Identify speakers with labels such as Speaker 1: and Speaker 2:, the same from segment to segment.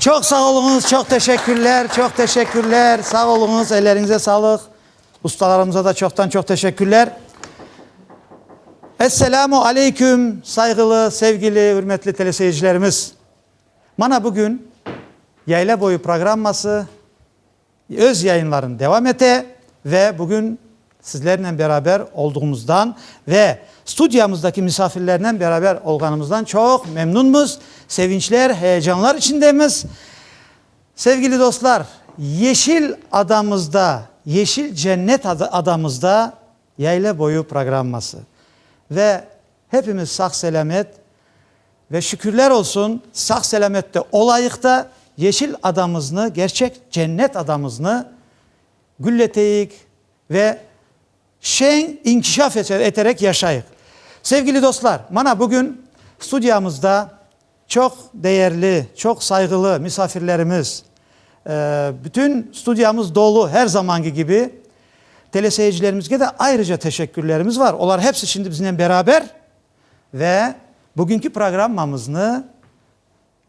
Speaker 1: Çoq sağ oluñız, çoq teşekkürler, çoq teşekkürler, sağ oluñız, elleriñize sağlıq. Ustalarımıza da çoqtan-çoq teşekkürler. Esselamu aleyküm, sayğılı, sevgili, ürmetli teleseyircilerimiz. Mana bugün Yayla boyu programması. Öz yayınlarını devam ete ve bugün sizlernen beraber olduğumuzdan ve studiyamızdaki misafirlernen beraber olğanımızdan çoq memnunmuz, sevinçler, heyecanlar içindemiz. Sevgili dostlar, Yeşil adamızda, Yeşil cennet adamızda Yayla boyu programması ve hepimiz sağ-selâmet Ve şükürler olsun, sağ-selamette olayıq da, yeşil adamıznı, gerçek cennet adamıznı gülleteyik ve şeñ inkişaf eterek yaşayıq. Sevgili dostlar, mana bugün studiyamızda çoq değerli, çoq sayğılı misafirlerimiz, bütün studiyamız dolu, her zamanki kibi. Teleseyircilerimizge de ayrıca teşekkürlerimiz var, olar hepsi şimdi biznen beraber. Ve bugünki programmamıznı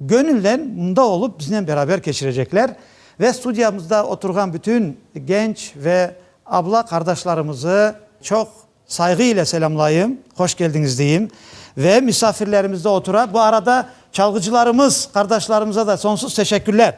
Speaker 1: göñülnen mında olıp biznen beraber keçirecekler ve studiyamızda oturğan bütün genç ve abla qardaşlarımızı çoq sayğı ile selâmlayım, hoş keldiñiz deyim. Ve misafirlerimiz de otura. Bu arada çalğıcılarımız qardaşlarımıza da sonsuz teşekkürler.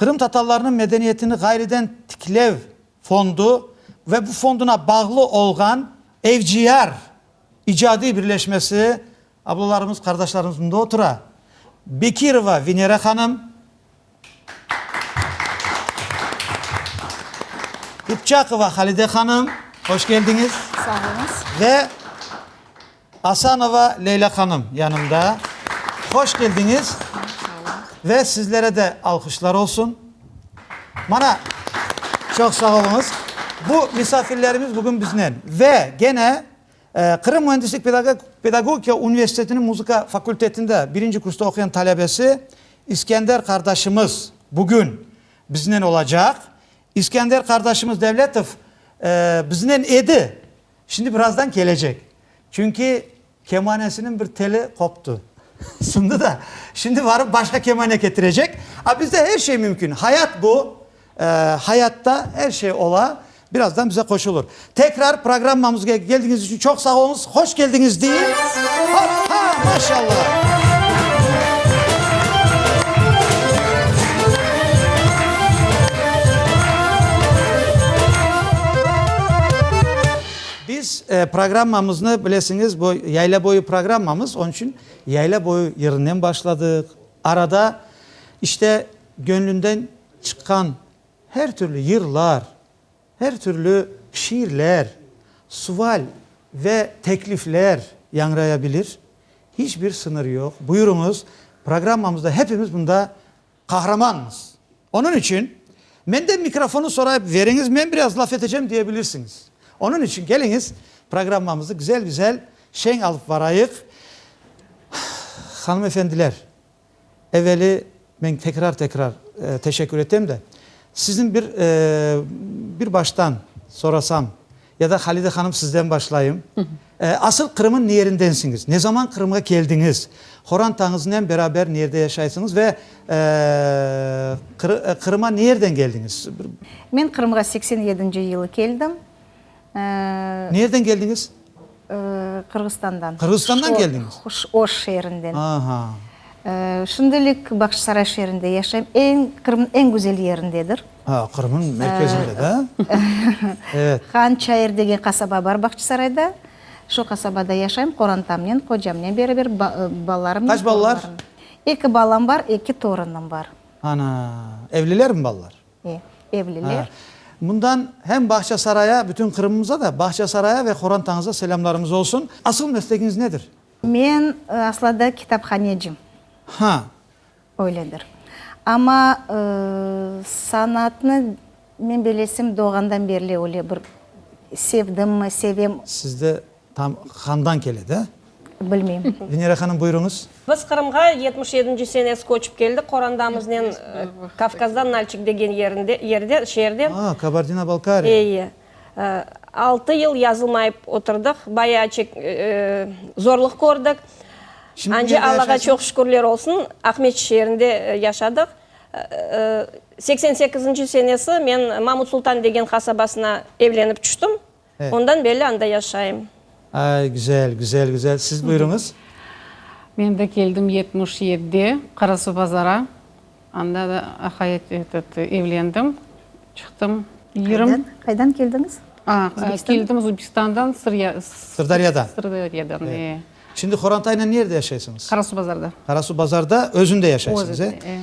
Speaker 1: Qırımtatarlarnıñ medeniyetini ğayrıdan tiklev fondu ve bu fonduna bağlı olğan FGR icadiy birleşmesi ablalarımız, qardaşlarımız mında otura, Bekirova Venera hanım, İpçakova Halide hanım, hoş keldiñiz,
Speaker 2: ve
Speaker 1: Asanova Leyla hanım yanımda. Hoş keldiñiz ve sizlere de alqışlar olsun. Mana, çoq sağ oluñız. Bu misafirlerimiz bugün biznen. Ve gene Qırım müendislik pedagogika universitetiniñ muzıka fakultetinde birinci kursta oquyan talebesi İskender qardaşımız bugün biznen olacaq. İskender qardaşımız Devletov biznen edi. Şimdi birazdan kelecek. Çünki kemanesiniñ bir teli qoptı, sındı da, şimdi barıp başqa kemane ketirecek. A bizde her şey mümkün. Hayat bu, hayatta her şey ola. Birazdan bize qoşulır. Tekrar programmamızğa keldiñiz içün çoq sağ oluñız. Hoş keldiñiz deyim. Hop-ha! Maşallah! Biz programmamıznı, bilesiñiz, bu yayla boyu programmamız, onıñ içün yayla boyu yerinden başladıq. Arada, işte, göñlünden çıqqan her türlü yırlar, her türlü şiirler, sual ve teklifler yañraya bilir. Hiç bir sıñır yoq. Buyurıñız, programmamızda hepimiz mında Qahramannız. Onıñ içün, menden mikrofonı sorayıp veriñiz, men biraz laf etecem diye bilirsiñiz. Onıñ içün keliñiz, programmamızı güzel-güzel, şeñ alıp barayıq. Hanımefendiler, eveli men tekrar-tekrar teşekkür etem de, sizni bir, bir baştan sorasam, Ya da Halide hanım sizden başlayım. Asıl Qırım'ın niyerindensiñiz? Ne zaman Qırım'a keldiñiz? Qorantañıznen beraber niyerde yaşaysıñız ve Qırım'a niyerden keldiñiz? Men Qırım'a
Speaker 2: seksen yedinci yılı keldim.
Speaker 1: Niyerden keldiñiz?
Speaker 2: Qırğızstandan. Qırğızstandan
Speaker 1: keldiñiz? Oş şeerinden.
Speaker 2: Aha.
Speaker 1: Şimdilik
Speaker 2: Bağçasaray şeerinde yaşayım. Eñ, Qırımnıñ eñ güzel yerindedir. Ha, Qırımnıñ
Speaker 1: merkezinde, da? Evet. Hançayır
Speaker 2: degen qasaba bar Bağçasarayda. Şu qasabada yaşayım, qorantamnen, qocamnen beraber, balalarımnen. Qaç balalar?
Speaker 1: Eki balam
Speaker 2: bar, eki torunım bar. Ana,
Speaker 1: evlilermi balalar? E, evliler.
Speaker 2: Ha,
Speaker 1: bundan hem Bağçasaraya, bütün Qırımımıza da, Bağçasaraya ve Qorantañıza selâmlarıñız olsun. Asıl meslegiñiz nedir? Men
Speaker 2: aslada kitaphanecim. Ha.
Speaker 1: Öyledir.
Speaker 2: Amma sanatnı men belesim doğğandan berli öyle bir sevdimmi, sevem. Sizde Tam
Speaker 1: handan kele de. Bilmeyim.
Speaker 2: Venera hanım, buyurıñız.
Speaker 1: Biz Qırımğa
Speaker 3: yetmiş yedinci senes köçip keldik qorandamıznen, Kavkazda Nalçik degen yerinde, yerde, şeerde. Aa,
Speaker 1: Kabardina-Balkariya. Eye.
Speaker 3: Altı yıl yazılmayıp oturdıq, bayağı çek, zorluq kördik. Şimdi nerede yaşaysıñız? Ance Allağa çoq şükürler olsun, Aqmeçit şeerinde yaşadıq. Seksen sekizinci senesi men Mamut-Sultan degen qasabasına evlenip çüştim. Ondan belli
Speaker 1: anda
Speaker 3: yaşayım. Ay, güzel,
Speaker 1: güzel, güzel. Siz buyurıñız. Men
Speaker 4: de keldim yetmiş yedi, Qarasuvbazara. Anda da hayat, etet, evlendim, çıqtım. Yirmi. Qaydan
Speaker 2: keldiñiz? Keldim
Speaker 4: Uzbekistandan, Sırya. Sırdaryadan.
Speaker 1: Sırdaryadan,
Speaker 4: e. Şimdi
Speaker 1: Horantaynen nerede yaşaysıñız? Qarasuvbazarda.
Speaker 4: Qarasuvbazarda
Speaker 1: özünde yaşaysıñız, e? Özünde, e.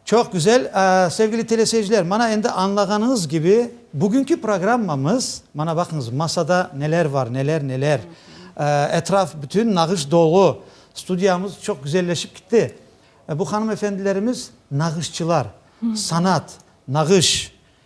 Speaker 1: Çoq güzel. Sevgili teleseyirciler, mana endi añlağanıñız kibi, bugünki programmamız, mana baqıñız, masada neler bar, neler, neler. Etraf bütün nağış dolu. Studiyamız çoq güzelleşip kitti. Bu hanım-efendilerimiz nağışçılar, sanat, nağış,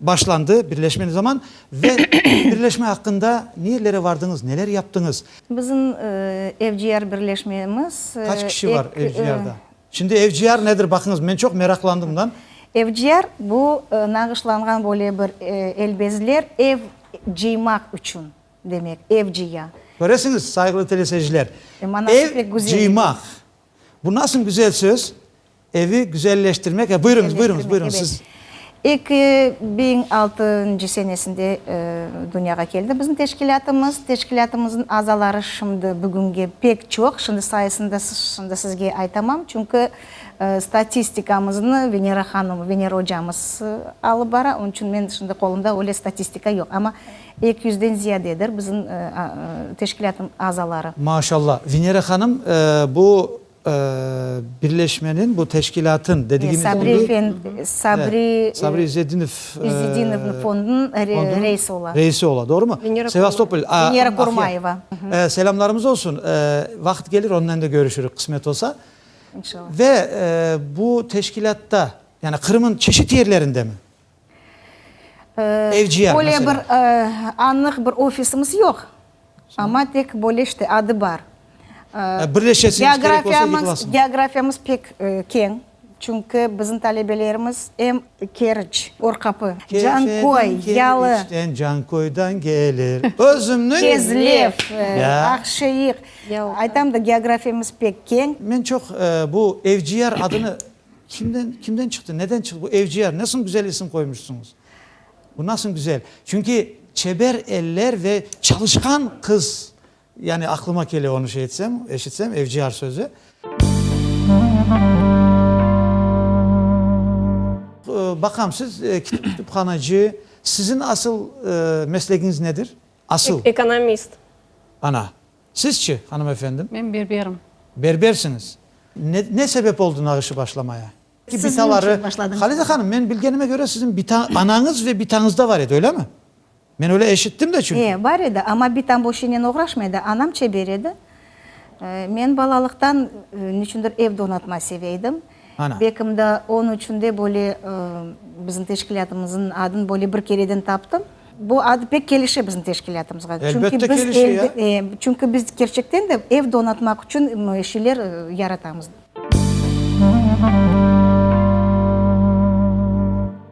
Speaker 1: Başlandı birleşme ne zaman ve birleşme aqqında nerelere vardıñız, neler yaptıñız? Bizim
Speaker 2: FGR birleşmemiz. Kaç kişi var
Speaker 1: FGRda? Şimdi FGR nedir baqıñız, men çoq meraqlandım bundan. FGR bu
Speaker 2: nağışlanğan böyle bir el bezler ev cıymaq içün demek, ev cıya. Köresiñiz, sayğılı
Speaker 1: teleseyirciler, ev
Speaker 2: cıymaq,
Speaker 1: bu nasıl güzel söz. Evi güzelleştirmek, he, buyurıñız, buyurıñız, buyurıñız, siz. Eki biñ
Speaker 2: altıncı senesinde dünyağa keldi bizim teşkilâtımız. Teşkilâtımıznıñ azaları şimdi, bugünge pek çoq, şimdi sayısını da şimdi sizge aytamam, çünki statistikamıznı Venera hanım, Venera ocamız alıp bara, onıñ içün men şimdi qolumda öyle statistika yoq, amma eki yüzden ziyadedir bizim teşkilâtnıñ azaları. Maşallah, Venera
Speaker 1: hanım, bu. Birleşmeniñ, bu teşkilâtın dedigimiz oluy. Sabri efendi, Sabri.
Speaker 2: Sabri İzzetdinov.
Speaker 1: İzzetdinovnıñ
Speaker 2: fondunıñ reisi ola. Reisi ola, doğrumı? Venera. Sevastopol.
Speaker 1: Venera Kurmayeva.
Speaker 2: Selâmlarımız
Speaker 1: olsun. Vaqıt gelir, onnen de körüşürük, qısmet olsa. İnşallah. Ve bu teşkilâtta, yani Qırım'ın çeşit yerlerindemi? Böyle bir anıq
Speaker 2: bir ofisimiz yoq, amma tek böyle işte adı bar.
Speaker 1: Geografiyamız pek
Speaker 2: keñ, çünki bizim talebelerimiz em Keriç, Orqapı, Canköy,
Speaker 1: Yalı, Kezlev,
Speaker 2: Aqşeik, aytam da geografiyamız pek keñ. Men çoq bu
Speaker 1: Evciyar adını Kimden, kimden çıqtı, neden çıqtı bu Evciyar? Nasıl güzel isim qoymuşsıñız? Bu nasıl güzel? Çünki çeber eller ve çalışqan qız, yani aqlıma kele onı şey etsem, eşitsem, Evciyar sözü. Baqam, siz kütüphanacı, siziñ asıl meslegiñiz nedir? Asıl. Ekonomist.
Speaker 3: Ana!
Speaker 1: Sizçe, hanımefendim? Men berberim.
Speaker 4: Berbersiñiz.
Speaker 1: Ne, ne sebep oldı nağışı başlamaya? Ki bitaları, Halide hanım,
Speaker 2: men bilgenime
Speaker 1: köre siziñ bita anañız ve bitañızda bar edi, öylemi? Men öyle eşittim de çünki. E, bar edi, amma bitam bu
Speaker 2: işinen oğraşmay edi, anam çeber edi. Men balalıqtan, ne içündir, ev donatma seveydim. Bekimda
Speaker 1: onıñ
Speaker 2: içün de böyle bizim teşkilâtımıznıñ adını böyle bir kereden taptım. Bu adı pek kelişe bizim teşkilâtımızğa. Elbette
Speaker 1: kelişe ya. Çünki biz kerçekten
Speaker 2: de ev donatmaq içün şeyler yaratamız.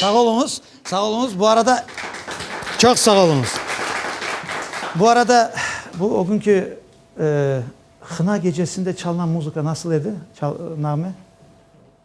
Speaker 1: Sağ oluñız, sağ oluñız. Bu arada, çoq sağ oluñız. Bu arada, bu ögünki Hına gecesinde çalınan muzıka nasıl edi, çal, nağme?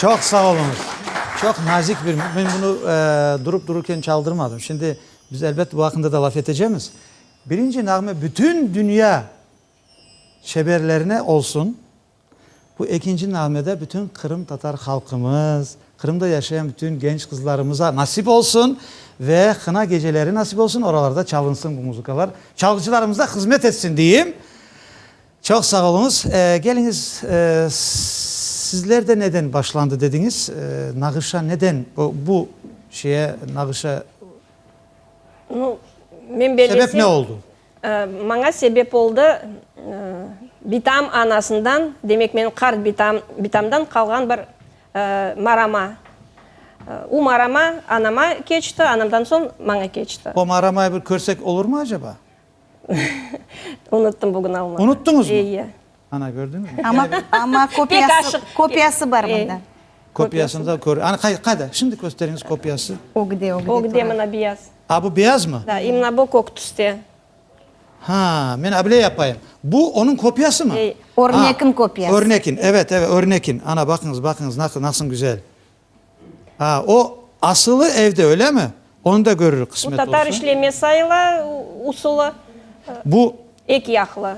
Speaker 1: Çoq sağ oluñız. Çoq nazik bir, men bunı durup dururken çaldırmadım. Şimdi biz elbet bu aqqında da laf etecemiz. Birinci nağme bütün dünya şeberlerine olsun. Bu ekinci nağme de bütün qırımtatar halqımız, Qırımda yaşayan bütün genç qızlarımıza nasip olsun ve qına geceleri nasip olsun, oralarda çalınsın bu muzıkalar, çalğıcılarımıza hızmet etsin deyim. Çoq sağ oluñız. Keliñiz, sizlerde neden başlandı dediñiz? Nağışa neden, bu şeye, nağışa sebep ne oldu? Maña
Speaker 3: sebep oldı, bitam anasından, demek, menim qart bitamdan qalğan bir marama. O marama anama keçti, anamdan soñ maña keçti. O maramay bir körsek
Speaker 1: olurmı acaba? Unuttım
Speaker 3: bugün almağa. Unuttıñız mı? Eye.
Speaker 1: Ana,
Speaker 3: kördiñiz mi?
Speaker 1: Amma, amma
Speaker 2: kopiyası, kopiyası bar mında. Kopiyasını da
Speaker 1: kör. Ana, qay, qayda? Şimdi kösteriñiz kopiyası. Ögde, ögde. Ögde
Speaker 2: mına beyaz.
Speaker 3: A, bu beyaz mı? Da,
Speaker 1: i mına bu kök tüste.
Speaker 3: Ha,
Speaker 1: men abile yapayım. Bu onıñ kopiyası mı? Ey. Örnekin kopiyası.
Speaker 2: Örnekin, evet, evet,
Speaker 1: örnekin. Ana, baqıñız, baqıñız, naq, nasıl güzel. Ha, o asılı evde, öylemi? Onı da görürük, qısmet olsa. Bu tatar işleme sayıla
Speaker 3: usulı. Bu.
Speaker 1: Ek yaqlı.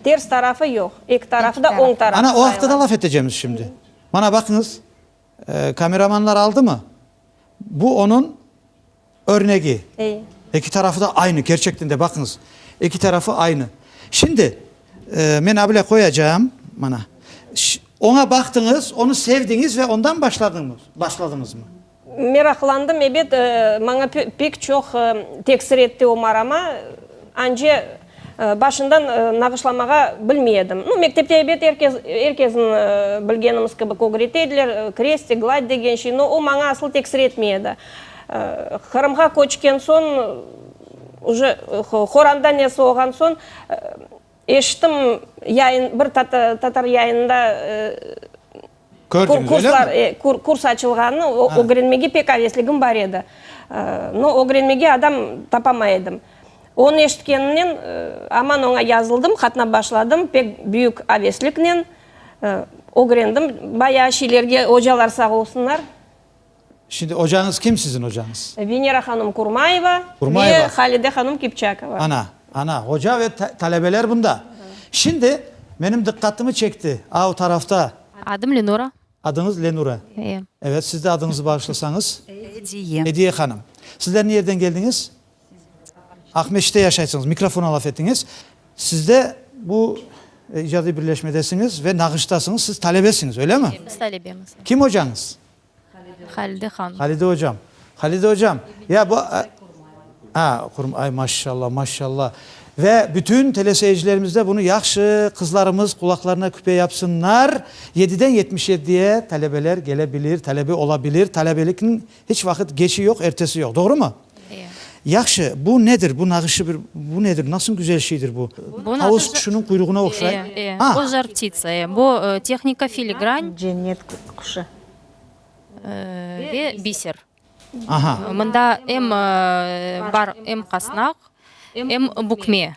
Speaker 3: Ters tarafı yoq. Ek tarafı da oñ tarafı sayıla. Ana, o aqta da laf etecemiz
Speaker 1: şimdi. Mana baqıñız, kameramanlar aldımı? Bu onıñ Örnegi, eki tarafı da aynı, kerçekten de, baqıñız, eki tarafı aynı. Şimdi, men abile qoyacağım, mana, oña baqtıñız, onı sevdiñiz ve ondan başladıñızmı? Meraqlandım,
Speaker 3: ebet, maña pek çoq tesir etti o marama, ance, Başından nağışlamağa bilmey edim. Nu, mektepte ebet er kez, er kezin bilgenimiz kibik ögret ediler, krestı, gladь degen şey, no o maña asıl tesir etmey edi. Qırımğa köçken soñ, uje Qoranda ne soğğan soñ, eşittim, yayın, bir tatar yayınında, Kördiñiz, öylemi? Kurs açılğanı ögrenmege pek avesligim bar edi, no ögrenmege adam tapamay edim. Onı eşitkenimnen, aman oña yazıldım, qatnap başladım, pek büyük avesliknen ögrendim bayağı şeylerge, ocalar sağ olsunlar.
Speaker 1: Şimdi ocañız kim siziñ ocañız? Venera hanım
Speaker 3: Kurmayeva ve Halide hanım Kipçakova. Ana, ana, oca ve
Speaker 1: talebeler bunda. Şimdi menim diqqatımı çekti av tarafta. Adım Lenura.
Speaker 5: Adıñız Lenura.
Speaker 1: Eee. Evet, siz de adıñızı bağışlasañız? Ediye. Ediye hanım. Sizler ne yerden keldiñiz? Aqmescitte yaşaysıñız. Mikrofona laf etiñiz. Siz de bu icadiy birleşmedesiñiz ve nağıştasıñız. Siz talebesiñiz, öyle mi? Biz talebemiz. Kim
Speaker 5: ocañız?
Speaker 1: Halide
Speaker 5: han. Halide ocam.
Speaker 1: Halide ocam. Ya bu a A, qurma, ay maşşalla, maşşalla. Ve bütün teleseyircilerimiz de bunu yahşı, qızlarımız qulaqlarına küpe yapsınnar. Yediden yetmiş yeddiye talebeler gelebilir, talebe olabilir. Talebelikniñ hiç vaqıt geçi yoq, ertesi yoq. Doğru mu? Yahşı,
Speaker 5: bu
Speaker 1: nedir? Bu nağışı bir, bu nedir? Nasıl güzel şeydir bu? Tavus quşunıñ quyruğına oqşay. Ee, ee, o Žar ptica,
Speaker 5: ee. Bu, tehnika filigrann. Cennet quşu.
Speaker 2: Ve
Speaker 5: biser. Aha.
Speaker 1: Mında em
Speaker 5: bar, em qasnaq, em bükme.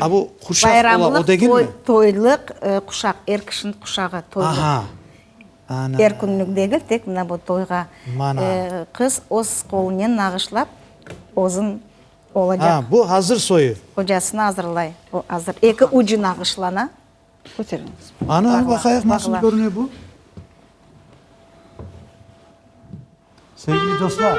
Speaker 1: A, bu quşaq ola, o degilmi? Bayramlıq, toylıq,
Speaker 2: quşaq, er kişiniñ quşağı, toylıq. Aha, ana!
Speaker 1: Er künlük degil,
Speaker 2: tek mına bu toyğa. Mana!
Speaker 1: Qız öz
Speaker 2: qolunen nağışlap, özün olacaq. A, bu azır soyu.
Speaker 1: Qocasına azırlay,
Speaker 2: o azır. Eki ucu nağışlana. Köteriñiz.
Speaker 1: Ana, baqayıq nasıl körüne bu. Sevgili dostlar.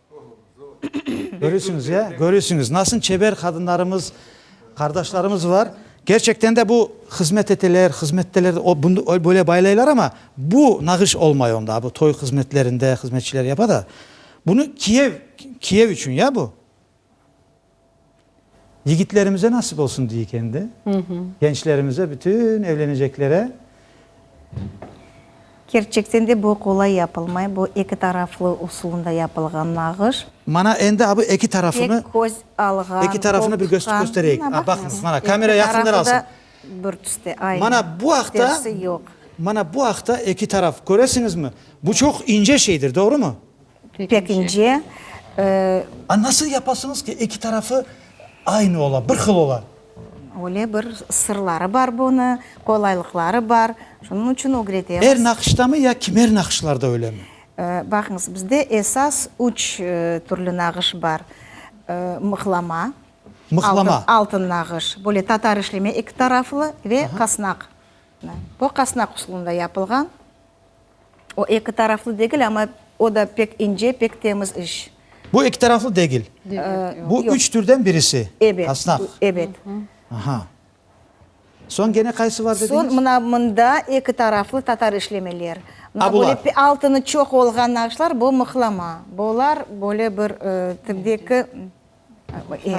Speaker 1: Körüsiñiz, ya? Körüsiñiz, nasıl çeber qadınlarımız, qardaşlarımız bar. Kerçekten de bu hızmet eteler, hızmetteler, o, bunı öyle, böyle baylaylar, amma bu nağış olmay onda. A, bu toy hızmetlerinde hızmetçiler yapa da. Bunı Kiyev, Kiyev içün, ya bu? Yigitlerimize nasip olsun deyik endi. Gençlerimize, bütün evleneceklere.
Speaker 2: Kerçekten de bu qolay yapılmay, bu eki taraflı usulında yapılğan nağış. Mana endi a bu
Speaker 1: eki tarafını. Tek köz alğan,
Speaker 2: eki tarafını bir
Speaker 1: göstereyik. Mana baqıñız, mana kamera yaqından alsın. Bir tüste,
Speaker 2: aynı. Mana bu aqta, mana bu aqta
Speaker 1: eki taraf, köresiñizmi? Bu çoq ince şeydir, doğrumu? Pekince,
Speaker 2: e. A
Speaker 1: nasıl yapasıñız ki, eki tarafı aynı ola, bir hıl ola? Öyle bir
Speaker 2: sırları bar bunı, qolaylıqları bar, şunıñ içün ögretemiz. Er naqıştamı ya
Speaker 1: kimer naqışlarda öylemi? E, baqıñız, bizde
Speaker 2: esas üç türlü nağış bar, e, mıhlama. Mıhlama.
Speaker 1: Altın, altın nağış,
Speaker 2: böyle tatar işleme eki taraflı ve qasnaq. Bu qasnaq usulında yapılğan. O eki taraflı degil, amma o da pek ince, pek temiz iş. Bu eki taraflı
Speaker 1: degil. Bu üç türden birisi. Ebet. Asnaq.
Speaker 2: Ebet. Aha.
Speaker 1: Soñ gene qaysı var dediñiz? Soñ mına mında
Speaker 2: eki taraflı tatar işlemeler. A, bular.
Speaker 1: Altını çoq
Speaker 2: olğan naqşlar, bu mıhlama. Bular böyle bir tibdeki.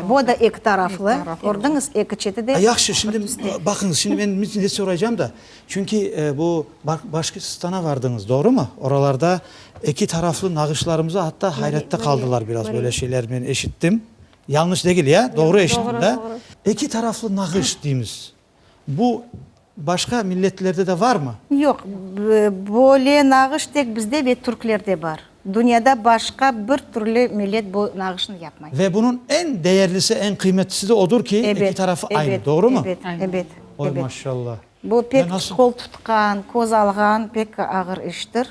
Speaker 2: Vo da eki taraflı, kördiñiz, eki çeti de. Yahşı, şimdi
Speaker 1: baqıñız, şimdi men ne soraycam da, çünki bu Başkirstana vardıñız, doğrumı? Oralarda eki taraflı nağışlarımızı atta hayratta qaldılar biraz, böyle şeyler men eşittim. Yañlış degil ya, doğru eşittim da? Eki taraflı nağış deymiz, Bu başqa milletlerde de varmı? Yoq,
Speaker 2: böyle nağış tek bizde ve türklerde bar. Dünyada başqa bir türlü millet bu nağışnı yapmay. Ve bunıñ eñ
Speaker 1: değerlisi, eñ qıymetlisi de odur ki, eki tarafı aynı, doğrumı? Ebet, ebet, ebet. Oy,
Speaker 2: maşallah. Bu
Speaker 1: pek
Speaker 2: qol tutqan, köz alğan pek ağır iştir.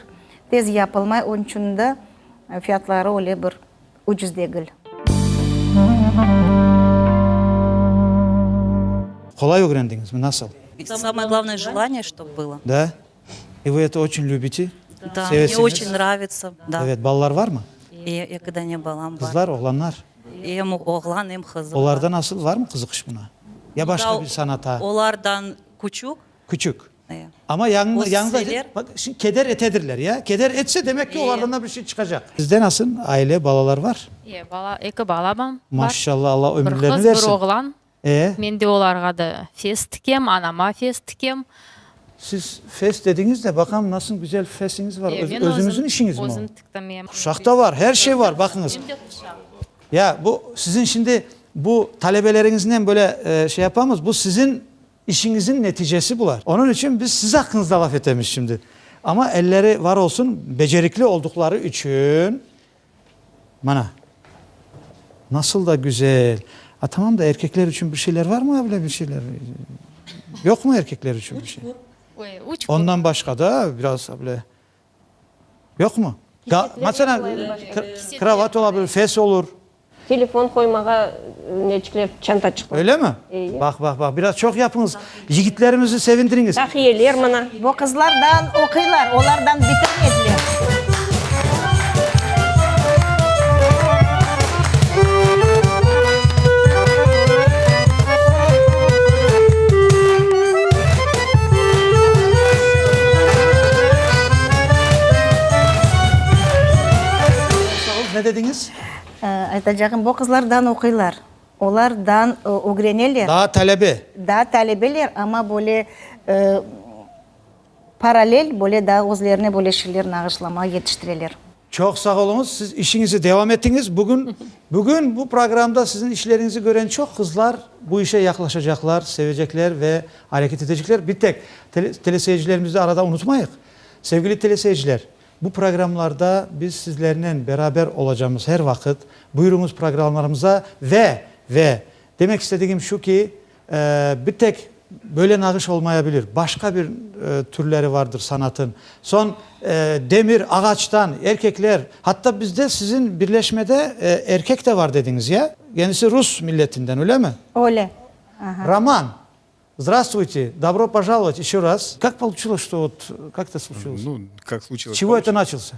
Speaker 2: Tez yapılmay, onıñ içün de fiyatları öyle bir ucuz degil.
Speaker 1: Qolay ögrendiñizmi, nasıl? Samaya glavnoye
Speaker 6: jelaniye ştob bılo. Da?
Speaker 1: I vı eto oçün lübiti? Da, mne
Speaker 6: oçün nravitsa, da. Evet, balalar varmı?
Speaker 1: E, eki dane
Speaker 6: balam bar. Qızlar, oğlanlar?
Speaker 1: Em
Speaker 6: oğlan, em qız. Olarda nasıl, varmı
Speaker 1: qızıqış buna? Ya başqa bir sanata? Olardan
Speaker 6: küçük. Küçük.
Speaker 1: Amma
Speaker 6: yañıñız, keder
Speaker 1: etedirler, ya? Keder etse, demek ki, olardan da bir şey çıqacaq. Sizde nasıl, aile, balalar bar? İyi, bala, eki balam
Speaker 5: bar. Maşşalla, Alla
Speaker 1: ömürlerini bersin. Bir qız, bir
Speaker 5: oğlan.
Speaker 1: E?
Speaker 5: Men de
Speaker 1: olarğa da
Speaker 5: fes tikem, anama fes tikem. Siz
Speaker 1: fes dediñiz de, baqam, nasıl güzel fesiñiz bar. Özüñizin işiñizmi o? Men
Speaker 5: özüm
Speaker 1: tiktim, ya. Quşaq
Speaker 5: da bar, her şey
Speaker 1: bar, baqıñız. Hem de quşaq. Ya, bu, siziñ şimdi, bu, talebeleriñiznen böyle şey yapamız, bu siziñ İşiñizin neticesi bular. Onıñ içün biz siz aqqıñızda laf etemiz şimdi. Amma elleri var olsun, becerikli olduqları içün, mana, nasıl da güzel. A, tamam da erkekler içün bir şeyler varmı böyle bir şeyler? Yoqmı erkekler içün bir şey? Ondan başqa da biraz böyle. Yoqmı? Daa, masalan, kravat ola bilir, fes olur. Telefon
Speaker 3: qoymağa neçikler çanta çıqmaz. Öylemi? Eye. Bah,
Speaker 1: bah, bah, biraz
Speaker 3: çoq
Speaker 1: yapıñız. Yigitlerimizni sevindiriñiz. Tahiyeler mana.
Speaker 3: Bu qızlar daan
Speaker 2: oquylar, olar daan bitirmediler.
Speaker 1: Aytacağım,
Speaker 2: bu qızlar dan oquylar, olar dan ögreneler. Daa talebe.
Speaker 1: Daa talebeler,
Speaker 2: amma böyle paralel, böyle daa özlerine böyle şeyler nağışlamağa yetiştireler. Çoq sağ oluñız,
Speaker 1: siz işiñizi devam etiñiz. Bugün, bugün bu programda siziñ işleriñizi kören çoq qızlar bu işe yaqlaşacaqlar, sevecekler ve areket etecekler. Bir tek tele, teleseyircilerimizni arada unutmayıq. Sevgili teleseyirciler, bu programlarda biz sizlernen beraber olacamız her vaqıt. Buyuruñız programlarımıza ve, ve demek istedigim şu ki, Bir tek böyle nağış olmaya bilir, başqa bir türleri vardır sanatın. Soñ demir, ağaçtan, erkekler, hatta bizde sizin birleşmede erkek de var dediñiz, ya? Kendisi rus milletinden, ölemi? Öyle, aha.
Speaker 2: Roman,
Speaker 1: zdravstvuyte, dobro požalovat eşo raz. Kak pouçulos, što ot kak to sluçulos?
Speaker 7: Çivo eto naçılsa?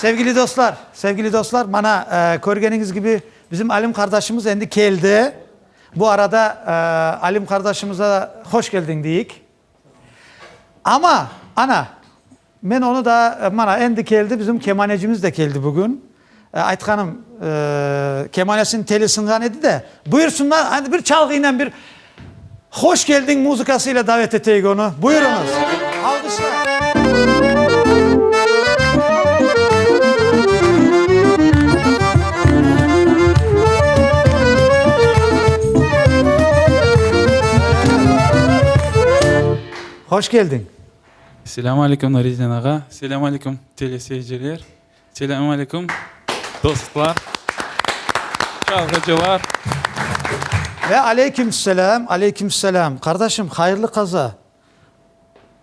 Speaker 1: Sevgili dostlar, sevgili dostlar, mana körgeniñiz kibi, bizim Alim qardaşımız endi keldi. Bu arada Alim qardaşımıza hoş keldiñ deyik. Amma, ana, men onı da, mana, endi keldi, bizim kemanecimiz de keldi bugün. Aytqanım, kemanesiniñ teli sınğan edi de. Buyursınlar, andi bir çalğıynen, bir Hoş geldiñ muzıkasıyla davet eteyik onı. Buyurıñız. Alğışlar. Hoş keldiñ. Selâmu
Speaker 8: alâykum, Nuredin ağa. Selâmu alâykum, teleseyirciler. Selâmu alâykum, dostlar, çalğıcılar.
Speaker 1: Ve aleyküm selâm, aleyküm selâm. Qardaşım, hayırlı qaza.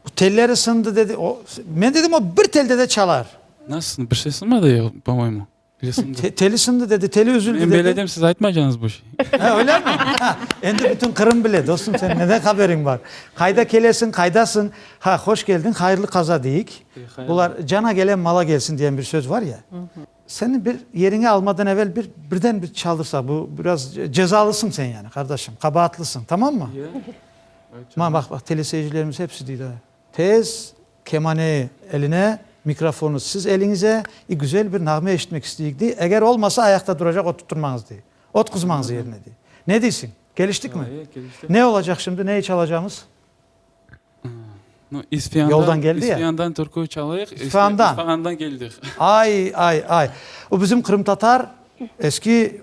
Speaker 1: Bu telleri sındı dedi. O, men dedim, o bir telde de çalar. Nasıl, bir şey
Speaker 8: sınmadı ya, po-moyemu. Teli sindi. Teli
Speaker 1: sindi dedi, teli üzüldi dedi. Men beledim, siz aytmaycañız
Speaker 8: bu şey. Ha, öylemi? Ha,
Speaker 1: endi bütün Qırım bile, dostum, senin neden haberiñ bar? Qayda kelesiñ, qaydasıñ? Ha, hoş keldiñ, hayırlı qaza deyik. Bular, cana gelen mala gelsin diyen bir söz var ya. Seni bir yeriñe almadan evel bir, birden bir çaldırsaq, bu biraz cezalısıñ sen yani, qardaşım, qabaatlısıñ, tamam mı? Mana baq, baq, teleseyircilerimiz hepsi deydi, ha. Tez, kemane eline, mikrofonı siz eliñize, i güzel bir nağme eşitmek isteyik, dey, eger olmasa ayaqta duracaq ot tutturmañız, dey, ot qızmañız yerine, dey. Ne deysiñ, keliştikmi? Ne olacaq
Speaker 8: şimdi, neyi
Speaker 1: çalacağımız?
Speaker 8: Yoldan geldi ya. İsfiyandan
Speaker 1: türkü çalayıq.
Speaker 8: İsfiyandan. İsfahandan
Speaker 1: keldik. Ay,
Speaker 8: ay,
Speaker 1: ay. O bizim qırımtatar Eski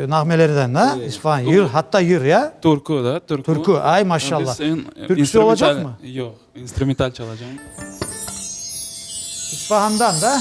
Speaker 1: nağmelerden, a? İsfahan, yır, hatta yır, ya? Türkü, da, türkü. Türkü,
Speaker 8: ay, maşallah.
Speaker 1: Türküsü
Speaker 8: olacaqmı? Yoq,
Speaker 1: instrumental
Speaker 8: çalacağım.
Speaker 1: İsfahandan, da?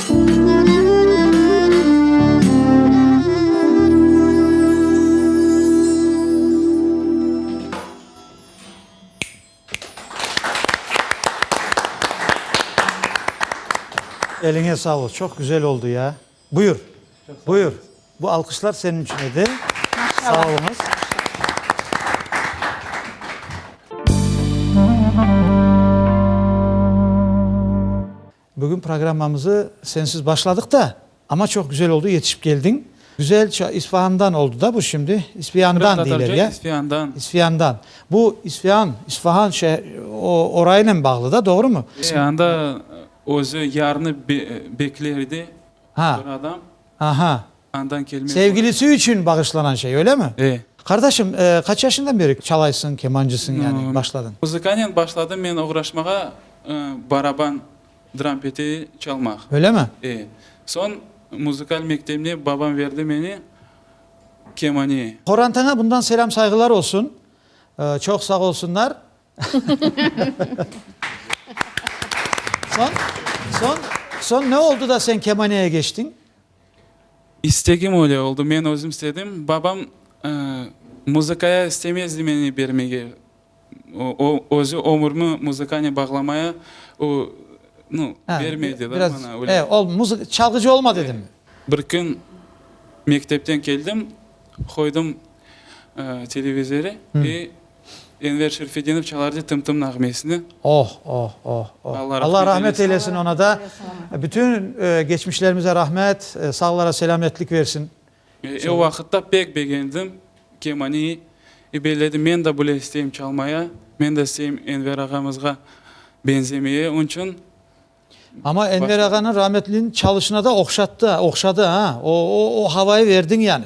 Speaker 1: Eliñe sağlık, çoq güzel oldu ya. Buyur, buyur. Bu alqışlar senin içün edi. Sağ oluñız. Bugün programmamızı sensiz başladıq da, amma çoq güzel oldı, yetişip keldiñ. Güzel ça, İsfahandan oldı da bu şimdi, İspiandan deyler, ya? İspiandan. İspiandan.
Speaker 8: Bu
Speaker 1: İspian, İsfahan şe, o, orayınen bağlı da, doğrumı? Anda
Speaker 8: özü yarnı be, bekler edi, bir
Speaker 1: adam.
Speaker 8: Aha.
Speaker 1: Andan kelme.
Speaker 8: Sevgilisi içün
Speaker 1: bağışlanan şey, öyle mi? E. Qardaşım, qaç yaşından beri çalaysıñ, kemancısıñ yani, başladıñ? Muzıkanen başladım
Speaker 8: men oğraşmağa, baraban, dram pete çalmaq. Öyle mi? E.
Speaker 1: Soñ
Speaker 8: muzıkal mektebine babam verdi meni, kemane. Qorantaña bundan
Speaker 1: selâm-sayğılar olsun, çoq sağ olsunlar. Soñ, soñ, soñ ne oldı da sen kemaneye geçtiñ?
Speaker 8: İstegim öyle oldı, men özüm istedim. Babam muzıkaya istemezdi meni bermege. O, özü ömürmi muzıkane bağlamaya o, nu, bermedi da bana öyle. Biraz, e, ol
Speaker 1: muzık,
Speaker 8: çalğıcı olma dedimi?
Speaker 1: Bir kün
Speaker 8: mektepten keldim, qoydım televizörı ve Enver Şerfedinov çalardı tım-tım nağmesini. Oh, oh, oh, oh. Alla
Speaker 1: rahmet eylesin oña da. Bütün geçmişlerimize rahmet, sağlara selâmetlik versin. E, o vaqıtta
Speaker 8: pek begendim kemani. E, belledim, men de bile isteyim çalmaya, men de isteyim Enver ağamızğa benzemeye. Onıñ içün. Amma
Speaker 1: Enver ağanıñ rahmetliniñ çalışına da oqşattı, oqşadı, a? O, o, o havayı verdiñ yani.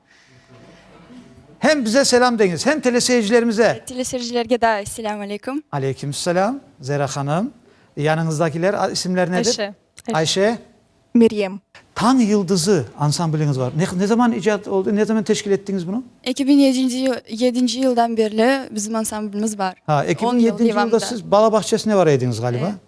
Speaker 1: Hem bize selâm deñiz, hem teleseyircilerimize. Teleseyircilerge da
Speaker 9: selâm aleyküm. Aleykümselâm,
Speaker 1: Zehra hanım. Yanıñızdakiler isimler nedir? Ayşe. Ayşe. Meryem. Tañ yıldızı ansambliñiz var. Ne ne zaman icat oldı, ne zaman teşkil ettiñiz bunı? Eki biñ yedinci yıl,
Speaker 9: yedinci yıldan berli bizim ansamblimiz bar. Ha, eki biñ yedinci
Speaker 1: yılda
Speaker 9: siz
Speaker 1: bala bağçesine
Speaker 9: var
Speaker 1: ediñiz, ğaliba. Evet.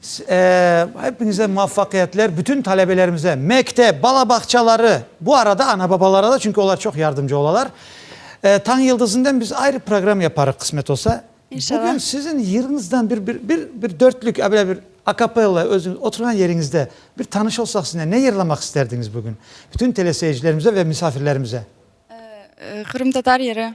Speaker 1: Saaaa hepiñize muvaffaqiyatler, bütün talebelerimize, mektep, bala bağçaları, bu arada ana-babalara da, çünki olar çoq yardımcı olalar. Eee, Tañ Yıldızınden biz ayrı program yaparıq, qısmet olsa. İnşallah. Bugün siziñ
Speaker 9: yırıñızdan
Speaker 1: bir, bir, bir, bir dörtlük, a böyle bir akapella, özüñ oturğan yeriñizde bir tanış olsaq siziñle, ne yırlamaq isterdiñiz bugün bütün teleseyircilerimize ve misafirlerimize? Eee,
Speaker 9: Qırımtatar yırı.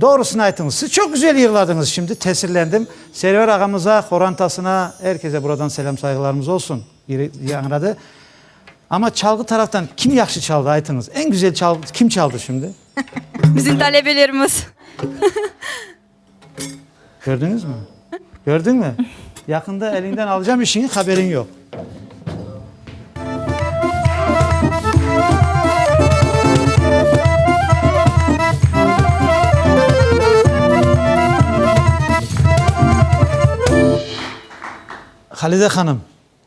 Speaker 1: Doğrusını aytıñız, siz çoq güzel yırladıñız şimdi, tesirlendim. Server ağamıza, qorantasına, er kese buradan selâm-sayğılarımız olsun, biri yañradı. Amma çalğı taraftan kim yahşı çaldı, aytıñız, eñ güzel çal, kim çaldı şimdi? Bizim
Speaker 9: talebelerimiz.
Speaker 1: Kördiñizmi? Kördiñmi? Yaqında eliñden alacam işiñi, haberiñ yoq. Halide hanım.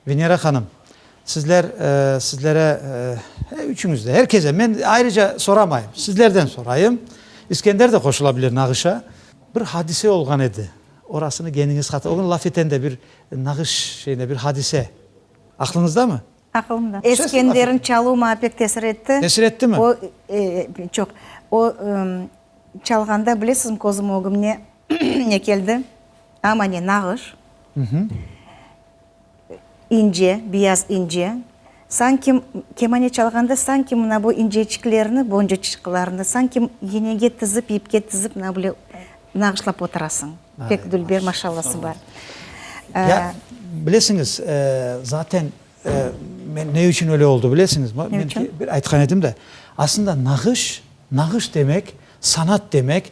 Speaker 1: Venera hanım, sizler, sizlere, e, üçüñiz de, her kese, men ayrıca soramayım, sizlerden sorayım, İskender de qoşulabilir nağışa. Bir hadise olğan edi, orasını geniñiz hatır, o kün laf eten de bir nağış şeyine, bir hadise aqlıñızdamı? Aqılımda. Eskenderniñ
Speaker 2: çaluv maña pek tesir etti. Tesir ettimi? O,
Speaker 1: e,
Speaker 2: çoq. O, e, çalğanda, bilesizmi, közüm ögümne ne keldi? Ama ne, nağış. Mhı. İnce, biyaz ince, sanki, kemane çalğanda sanki mına bu inceçiklerni, boncuçıqlarnı sanki yenege tizip, ipke tizip mına böyle nağışlap oturasıñ. Pek dülber maşallası bar. Ya,
Speaker 1: bilesiñiz, zaten men ne içün öyle oldı bilesiñizmi? Ne içün? Aytqan edim de, aslında nağış, nağış demek, sanat demek.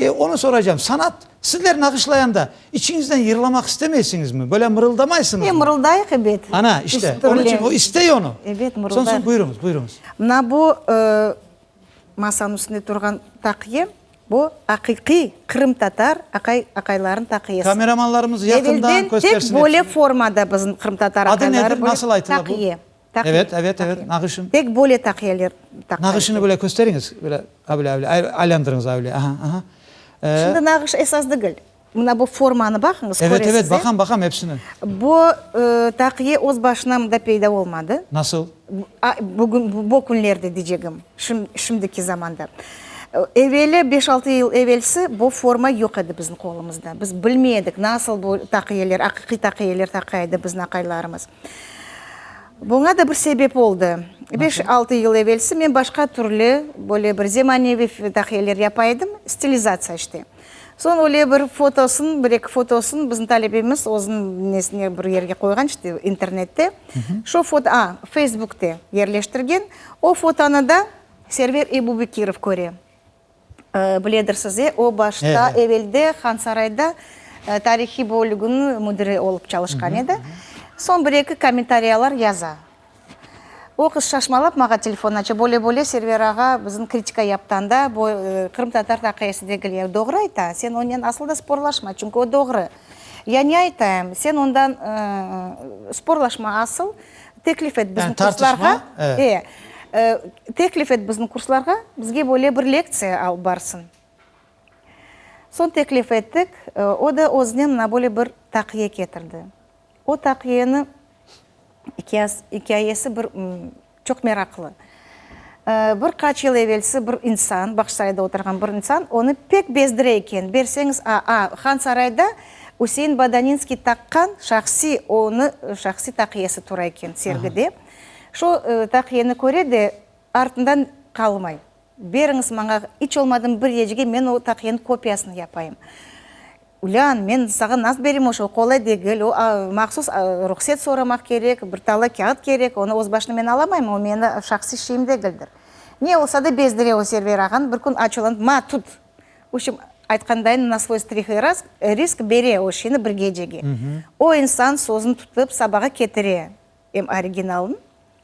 Speaker 1: E, onı soraycam. Sanat, sizler nağışlayanda, içiñizden yırlamaq istemeysiñizmi? Böyle mırıldamaysıñızmı? E, mırıldayıq, ebet. Ana,
Speaker 2: işte, onıñ
Speaker 1: içün o istey onı. Ebet, mırıldayıq. Soñ, soñ, buyuruñız,
Speaker 2: buyuruñız. Mına bu, e, masanıñ üstünde
Speaker 1: turğan
Speaker 2: taqıya, bu aqiqiy qırımtatar aqay, aqaylarınıñ taqıyası. Kameramanlarımız yaqından
Speaker 1: köstersin. Evelden tek böyle
Speaker 2: formada bizim
Speaker 1: qırımtatar
Speaker 2: aqayları böyle taqıya. Adı nedir, nasıl aytıla
Speaker 1: bu? Evet,
Speaker 2: evet, evet,
Speaker 1: nağışın. Tek böyle taqiyeler
Speaker 2: taqar. Nağışını böyle
Speaker 1: kösteriñiz, böyle avle, avle, aylandırıñız avle, aha, aha. Şimdi
Speaker 2: nağış esas degil. Mına bu formanı baqıñız, köresiz. Evet, evet, baqam, baqam
Speaker 1: epsini. Bu
Speaker 2: taqiye öz başına mında peyda olmadı. Nasıl?
Speaker 1: Bugün,
Speaker 2: bu künlerde diycegim, şimdiki zamanda. Eveli, beş-altı yıl evelsi bu forma yoq edi bizim qolumızda. Biz bilmey edik, nasıl bu taqiyeler, aqiqiy taqiyeler taqa edi bizim aqaylarımız. Buña da bir sebep oldı. Beş-altı yıl evelsi men başqa türlü, böyle bir zemaneviy dahiyeler yapa edim, stilizatsiya işte. Soñ öyle bir fotosın, bir-eki fotosın bizim talebemiz özüniñ nesine bir yerge qoyğan işte, internette. Şu foto, a, feysbukte yerleştirgen. O fotonı da Server Ebubekirov köre. Biledirsiz, e, o başta, evelde Hansarayda tarihiy bölüginiñ müdiri olıp çalışqan edi. Soñ bir-eki kommentariyalar yaza. O qız şaşmalap maña telefon aça, Böyle-böyle Server ağa bizim kritika yaptı anda, bu qırımtatar taqiyesi degil. Ya doğru ayta, sen onen asıl da sporlaşma, çünki o doğru. Ya ne aytayım, sen ondan sporlaşma asıl, Teklif et bizni kurslarğa, e, teklif et bizni kurslarğa, bizge böyle bir lektsiya alıp barsın. Soñ teklif ettik, o da özünen mına böyle bir taqiye ketirdi. O taqiyeniñ ikâyesi bir çoq meraqlı. Bir qaç yıl evelsi bir insan, Bahçesarayda oturğan bir insan, onı pek bezdire eken, berseñiz, a-a, Han Sarayda Üsein Badaninskiy taqqan şahsiy, onı şahsiy taqiyesi tura eken sergide. Şu taqiyeni köre de, artından qalmay, beriñiz maña, iç olmadı bir yecge, men o taqiyeniñ kopiyasını yapayım. Ulân, men sağa nasıl bereyim o şoy, qolay degil, o mahsus ruhset soramaq kerek, bir tala kâğıt kerek, onı öz başına men alamaymın, o meni şahsiy şeyim degildir. Ne olsa da bezdire o Server ağanı, bir kün açuvlanıp, ma, tut! Uçim, aytqandayın, na svoy strih i risk bere o şeyni bir gecege. O insan sözüni tutıp, sabağa ketire em originalın,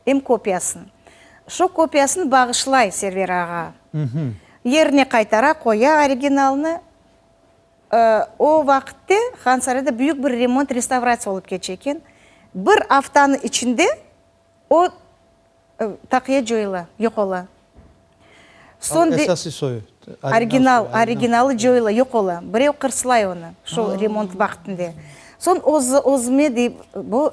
Speaker 2: em kopiyasın. Şo kopiyasını bağışlay Server ağa, yerine qaytara, qoya originalnı, O vaqıtte Hansarayda büyük bir remont, restavratsiya olıp keçe eken. Bir aftanıñ içinde o taqiye coyula, yoq ola. Soñ de,
Speaker 1: original,
Speaker 2: originalı coyula, yoq ola. Birev qırslay onı, şol remont vaqtinde. Soñ özüme, dey, bu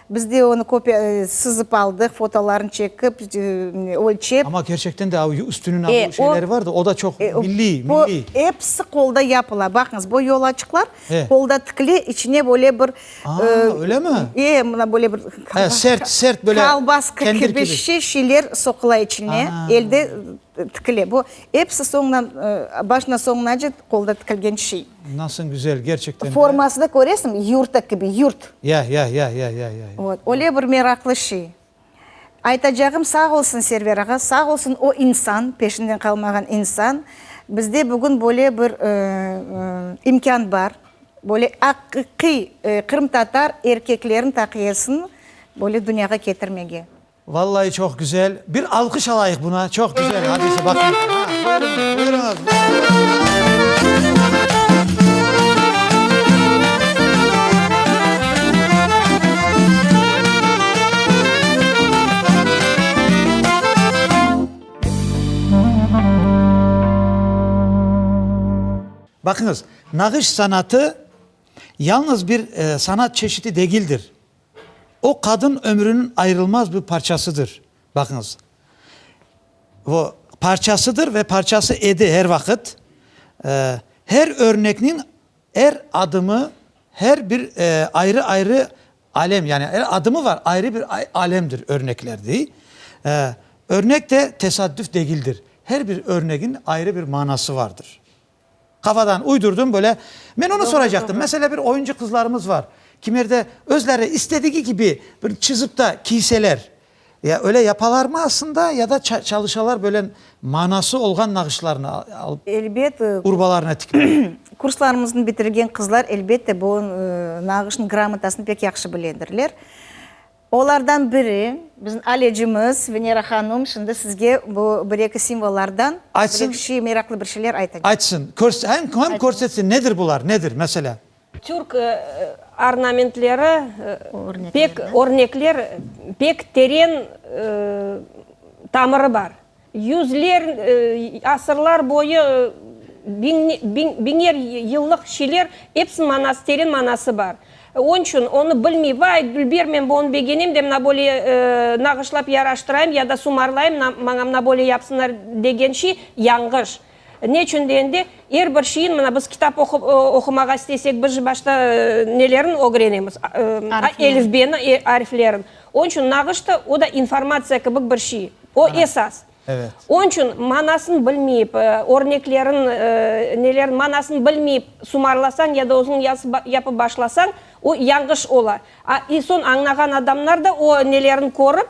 Speaker 2: Biz de onı kopiya, sızıp aldıq, fotolarını çekip, ölçep. Amma kerçekten de o
Speaker 1: üstüniñ abu şeyleri var da, o da çoq milliy, milliy. Bu episi
Speaker 2: qolda yapıla. Baqıñız, bu yolaçıqlar qolda tikile, içine böyle bir. Aa, öylemi?
Speaker 1: E, mına böyle bir.
Speaker 2: He, sert, sert böyle.
Speaker 1: Kolbaska kibi
Speaker 2: şeyler soqula içine, elde tikile. Bu episi soñdan, başından soñunace qolda tikilgen şey. Nasıñ güzel,
Speaker 1: gerçekten de. Formasını köresiñ,
Speaker 2: yurta kibi, yurt. Ya, ya, ya, ya,
Speaker 1: ya, ya. Vot,
Speaker 2: öyle bir meraqlı şey. Aytacağım, sağ olsun Server ağa, sağ olsun o insan, peşinden qalmağan insan. Bizde bugün böyle bir imkân bar, böyle aqiqiy qırımtatar erkeklerin taqiyesini böyle dünyağa ketirmege. Vallay çoq
Speaker 1: güzel. Bir alqış alayıq buna. Çoq güzel hadise baqın. Buyurunız, buyurunız. Baqıñız, nağış sanatı yalnız bir sanat çeşidi degildir. O, qadın ömrüniñ ayırılmaz bir parçasıdır. Baqıñız, o, parçasıdır ve parçası edi her vaqıt. Her örnekniñ er adımı, her bir ayrı-ayrı alem, yani er adımı var, ayrı bir alemdir örnekler, dey. Örnek de tesadüf degildir, her bir örnegiñ ayrı bir manası vardır. Qafadan uydurdım böyle. Men onı soraycaqtım. Mesele bir oyuncı qızlarımız var. Kimerde özleri istedigi kibi bir çizip ta kiyseler. Ya öyle yapalarmı aslında ya da çalışalar böyle manası olğan nağışlarnı alıp Elbet. urbalarına
Speaker 2: tikip.
Speaker 1: Kurslarımıznı
Speaker 2: bitirgen qızlar elbette bu nağışnıñ gramotasını pek yahşı biledirler. Olardan biri, bizim Alecimiz, Venera hanum, şimdi sizge bu bir-eki simvollardan bir-eki şey,
Speaker 1: meraqlı bir şeyler
Speaker 2: aytacaq. Aytsın, hem
Speaker 1: körsetsin, nedir bular, nedir, mesele? Türk
Speaker 3: ornamentleri, örnekler pek teren tamırı bar. Yüzler, asırlar boyu, biñer yıllıq şeyler, epsiniñ manası, teren manası bar. Onıñ içün onı bilmey, vay, Gülbermen, bu, onı begenem de, mına böyle nağışlap yaraştırayım ya da sumarlayım, maña mına böyle yapsınlar, degenşi, yañğış. Ne içün degende, er bir şeyin, mına biz kitap oqumağa istesek, birinci başta nelerin ögrenemiz? Elifbeni, ariflerin. Onıñ içün nağış da, o da informatsiya kibik bir şey. O, esas. Onıñ içün manasını bilmeyip, örneklerin, nelerin manasını bilmeyip sumarlasañ ya da özüñ yapıp başlasañ, o, yanğış ola. A, soñ añlağan adamlar da o nelerin körip,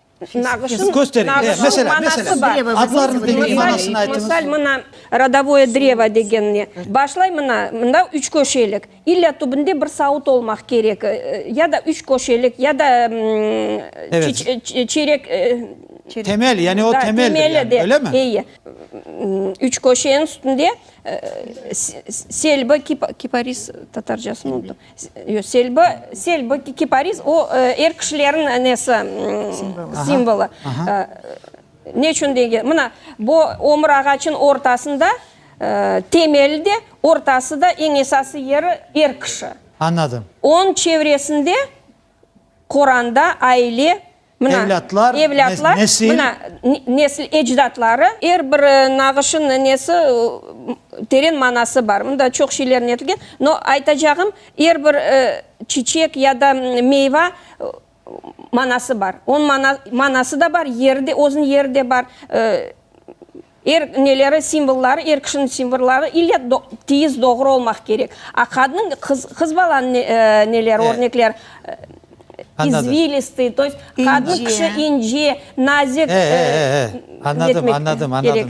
Speaker 3: Kösteri, mesela, mesela, adlarnı deñiñ,
Speaker 1: manasını aytıñız. Misal, mına,
Speaker 3: rodovoye drevo degenine başlay, mına, mında üç köşelik, illa tübünde bir savut olmaq kerek, ya da üç köşelik, ya da çeyrek, Temel,
Speaker 1: yani o temeldir, yani, öyle mi? Eyi,
Speaker 3: üç köşenin üstünde selbi, kiparis, tatarcasını unuttum. Selbi, selbi, kipariz, o, er kişilerin nesi, simvolu. Ne içün degen, mına, bu ömür ağaçın ortasında, temeli de, ortası da, eñ esası yeri er kişi. Añladım. Onıñ
Speaker 1: çevresinde
Speaker 3: Qoranda aile.
Speaker 1: Evlâtlar, nesil. Nesil,
Speaker 3: ecdatları. Er bir nağışın nenesi, teren manası bar. Mında çoq şeyler netilgen. No, aytacağım, er bir çiçek ya da meyva manası bar. Onıñ manası da bar, yeri de, özüniñ yeri de bar. Er neleri simvolları, er kişiniñ simvolları ile tiyiz, doğru olmaq kerek. A qadınıñ, qız, qız balanıñ neleri, örnekleri, izvilistı, to yest, qadın kişi ince, nazik,
Speaker 1: etmek kerek.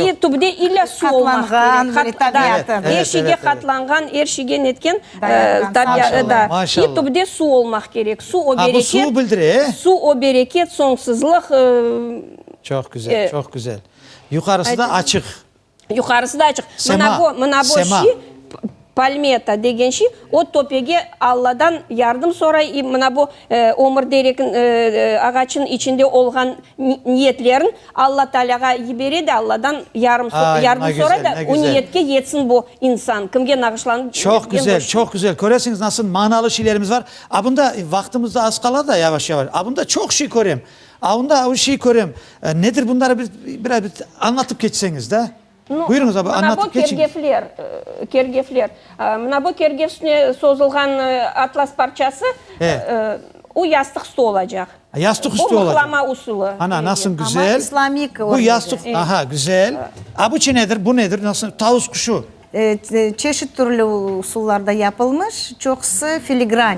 Speaker 3: E, tübde ile su olmaq kerek. Qatlanğan. Er şeyge qatlanğan, er şeyge netken, da. E, tübde su olmaq kerek. Su, o bereket. Su,
Speaker 1: o bereket,
Speaker 3: soñsuzlıq.
Speaker 1: Çoq güzel, çoq güzel. Yuqarısı da açıq. Yuqarısı
Speaker 3: da açıq. Sema, sema. Palmeta degen şey, o töpege Alladan yardım soray, i mına bu ömür derek ağaçnıñ içinde olğan niyetlerin Alla Taalâğa yibere de, Alladan yarım, yardım soray da, o niyetke yetsin bu insan, kimge nağışlanıp. Çoq güzel, çoq
Speaker 1: güzel. Köresiñiz, nasıl manalı şeylerimiz bar. A bunda vaqtımız da az qala da, yavaş-yavaş. A bunda çoq şey körem. A, onda o şeyi körem. Nedir bunları bir, biraz bir añlatıp keçseñiz da. No, Buyurıñız abi, mına bu añlatıp keçiñ. kergefler,
Speaker 3: kergefler. Mına bu kergef üstüne sozulğan atlas parçası, E. o yastıq üstü olacaq. Yastıq üstü olacaq.
Speaker 1: Bu mıhlama usulı.
Speaker 3: Ana, nasıl Ama güzel.
Speaker 1: islamik Bu örnegi.
Speaker 2: yastıq, aha,
Speaker 1: güzel. A, bu çi nedir, bu nedir, nasıl, tavus quşu. E, çeşit
Speaker 2: türlü usullarda yapılmış, çoqusı filigran.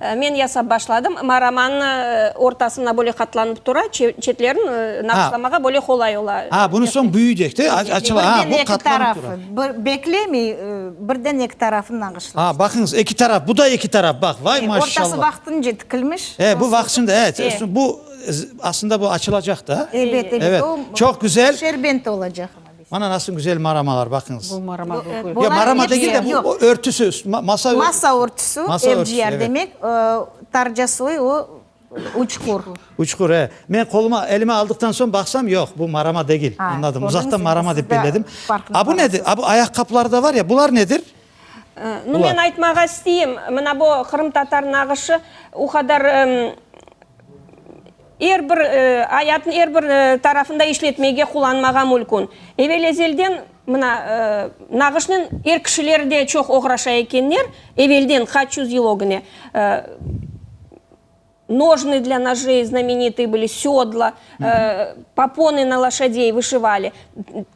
Speaker 3: Men yasap başladım. Ma romannı ortasına böyle qatlanıp tura, çetlerin naqışlamağa böyle qolay ola. A, bunı soñ büyüycek
Speaker 1: de, açıla. A, bu qatlanıp tura. Birden eki tarafı, beklemey,
Speaker 2: birden eki tarafını naqışladı. A, baqıñız, eki taraf, bu
Speaker 1: da eki taraf, baq, vay maşallah. Ortası vaqtınca tikilmiş.
Speaker 2: E, bu vaqtınca, evet,
Speaker 1: bu, aslında bu açılacaq
Speaker 2: da.
Speaker 1: Ebet, ebet,
Speaker 2: o, çoq
Speaker 1: güzel.
Speaker 2: Şerbent
Speaker 1: olacaq. Mana nasıl güzel maramalar, baqıñız. Bu marama Yo, degil. Yo,
Speaker 4: marama Bolaniç degil
Speaker 1: de, degil,
Speaker 2: bu yoq. örtüsü,
Speaker 1: üst- ma-
Speaker 2: masa
Speaker 1: örtüsü. Masa örtüsü,
Speaker 2: Masa örtüsü, evciyer evet. demek,
Speaker 1: ıı,
Speaker 2: tarcasıy o, uçqur. Uçqur, e.
Speaker 1: Men qoluma, elime aldıqtan soñ baqsam, yoq, bu marama degil. Ha, Añladım, gördüñiz, uzaqtan şimdi
Speaker 2: marama siz
Speaker 1: dep de
Speaker 2: belledim.
Speaker 1: farqına A
Speaker 2: bu nedir?
Speaker 1: varasız.
Speaker 2: A bu
Speaker 1: ayaqqapılar da
Speaker 2: var ya,
Speaker 1: bular nedir? Nu, Ulan.
Speaker 3: men aytmağa isteyim, mına bu qırımtatar nağışı o qadar, ımm, Er bir, ayatnıñ er bir tarafında işletmege, qullanmağa mülkün. Evel-ezelden, mına, nağışnen er kişiler de çoq oğraşa ekenler, evelden, qaç yüz yıl ögüne. Nojnıy dla nožey, znamenitıy bıli, sâdla, poponi na loşadey vışıvali.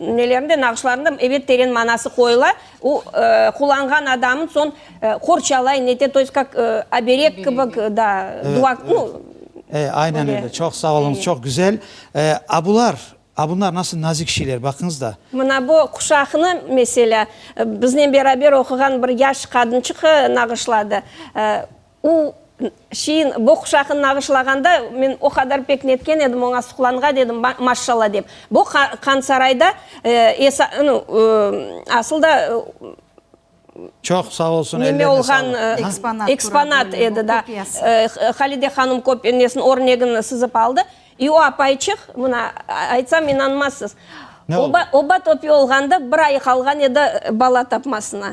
Speaker 3: Nelerinde, nağışlarında, ebet, teren manası qoyula. O, qullanğan adamın soñ qorçalay, nete, to yest'kak oberek kibik, da, dua, nu. E, aynen öyle.
Speaker 1: Çoq sağ
Speaker 3: oluñız, çoq
Speaker 1: güzel. A bular, a bunlar nasıl nazik şeyler, baqıñız da. Mına bu quşaqnı,
Speaker 3: meselâ, biznen beraber oquğan bir yaş qadınçıq nağışladı. O şeyin, boquşaqın nağışlağanda, men o qadar pek netken edim, oña suqlanğan edim, maşşalla dep. Bu Qansarayda, asıl da,
Speaker 1: neme olğan
Speaker 3: eksponat
Speaker 1: edi,
Speaker 3: da. Halide hanım nesin, örnegin sızıp aldı. İ o apayçıq, mına, aytsam inanmazsız,
Speaker 1: oba topi olğanda,
Speaker 3: bir ayı qalğan edi bala tapmasına.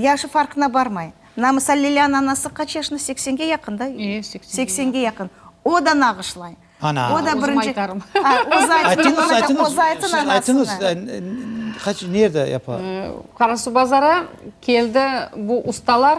Speaker 2: Yaşı farqına barmay. Mına, misal, Lelâniñ anası qaç yaşında? Seksenge yaqın da? E, seksenge yaqın. O da nağışlay. Ana! O da birinci.
Speaker 1: Özüm
Speaker 4: aytarım.
Speaker 2: Özü
Speaker 4: aytsın, ondan da özü aytsın
Speaker 1: anasına. Aytıñız, siz aytıñız, qaç, nerede yapa? Qarasuvbazara
Speaker 4: keldi bu ustalar.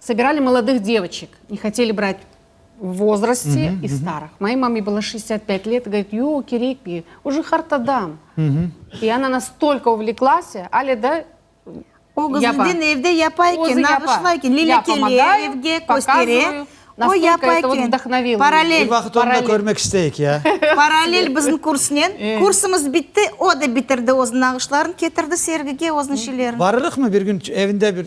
Speaker 4: Sobirali molodih devoçik, ne hoteli brat v vozrosti i starıh. Moyı mame bılo şestdet pet let, govorit, yoq, kerek degil, oje hart adam. I ona nastolko uvleklase, ale da O qız
Speaker 2: inden evde yapa eken, nağışla eken, Lilâ kele, evge köstere, o yapa eken, paralel. Bir
Speaker 1: vaqıt onı da körmek isteyik, ya. Paralel bizim
Speaker 2: kursnen, kursımız bitti, o da bitirdi, öz nağışlarını ketirdi sergige, öz neşelerini. Barırıqmı bir kün
Speaker 1: evinde bir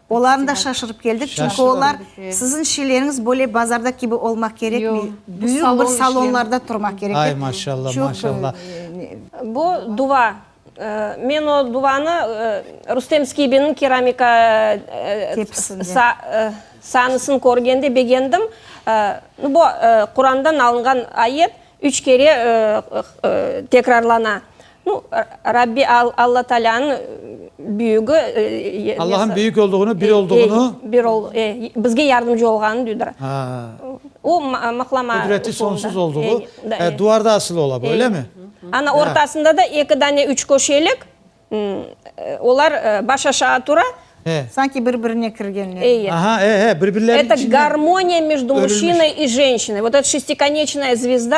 Speaker 4: Olarnı da şaşırıp
Speaker 2: keldik, çünki olar, Sizin şeyleriñiz böyle bazarda kibi olmaq kerekmey, büyük bir salonlarda
Speaker 4: turmaq kerek,
Speaker 2: dep, çoq. Ay, maşallah,
Speaker 1: maşallah. Bu,
Speaker 3: duva. Men o duvanı Rustem Skibinniñ keramika sahnısını körgende begendim. Bu, Qurandan alınğan ayet üç kere tekrarlana. Nu, Rabbi Alla Taalâ'nıñ büyügi, e, Allah'ın büyük
Speaker 1: olduğunu, bir olduğunu. e, bir ol, e, bizge
Speaker 3: yardımcı olğanını duydur. Ha, O ma- maqlama qudreti usulında. sonsuz
Speaker 1: olduğu, E, da, e, e. duvarda asılı ola bu, öyle mi? Ana Ya. ortasında
Speaker 3: da eki dane üçköşelik, m, e, olar, e, baş aşağı tura. E, Sanki
Speaker 2: bir-birine kirgenler. Eye. aha, e, e, birbirleriniñ
Speaker 1: Eto içinden. garmoniya между örülmüş.
Speaker 3: muşinay i jenşinay. Vot et şestikonechnoye zvizda.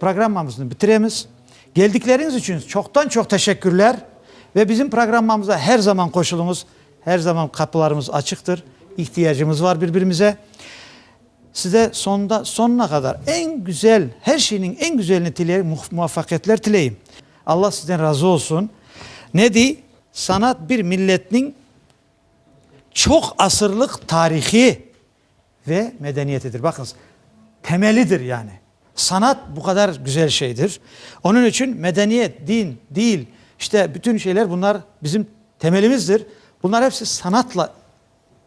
Speaker 1: Programmamıznı bitiremiz. Geldikleriñiz içün çoqtan-çoq teşekkürler ve bizim programmamıza her zaman qoşuluñız. Her zaman qapılarımız açıqtır, ihtiyacımız var bir-birimize. Size soñunda, soñuna qadar eñ güzel, her şeyniñ eñ güzelini tileyim, muvafaqiyetler tileyim. Alla sizden razı olsun. Ne dey, sanat bir milletniñ çoq asırlıq tarihi. ve medeniyetidir. Baqıñız, temelidir yani. Sanat bu qadar güzel şeydir. Onıñ içün medeniyet, din, dil, işte bütün şeyler bunlar bizim temelimizdir. Bunlar hepsi sanatla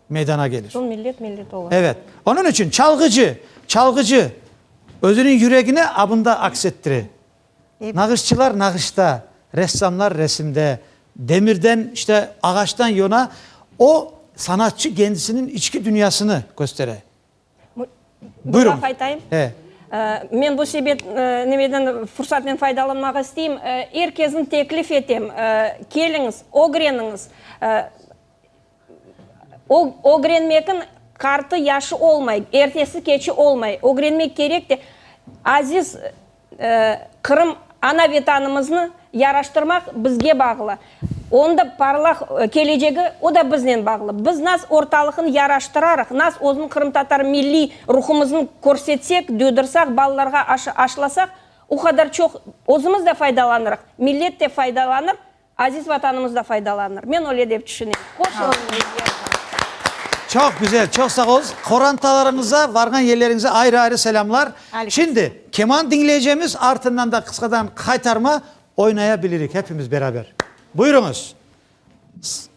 Speaker 1: meydana gelir. Soñ millet millet ola. Evet.
Speaker 3: Onıñ içün
Speaker 1: çalğıcı, çalğıcı özüniñ yüregini abında aks ettire. Nağışçılar nağışta, ressamlar resimde, demirden, işte, ağaçtan yona, o, sanatçı kendisiniñ içki dünyasını köstere. Bir laf aytayım. Men bu
Speaker 3: sebep, neveden, fursatnen faydalanmaq isteyim. Er kesni teklif etem, keliñiz, ögreniñiz. Ögrenmekniñ qartı yaşı olmay, ertesi keçi olmay, ögrenmek kerek de, aziz Qırım ana Vetanımıznı yaraştırmaq bizge bağlı, onda parlaq kelecegi o da biznen bağlı. Biz nas ortalıqnı yaraştırarıq, nas özün qırımtatar milliy ruhumıznı körsetsek, duydırsaq, balalarğa aşlasaq, o qadar çoq özümiz de faydalanırıq, millet de faydalanır, Aziz Vatanımız da faydalanır. Men öyle dep tüşünem. Qoşulın bizge.
Speaker 1: Çoq güzel, çoq sağ olunız. Qorantalarıñıza, varğan yerleriñize ayrı-ayrı selâmlar. Şimdi keman diñleycemiz, artından da qısqadan qaytarma oynaya bilirik, hepimiz beraber. Buyurıñız.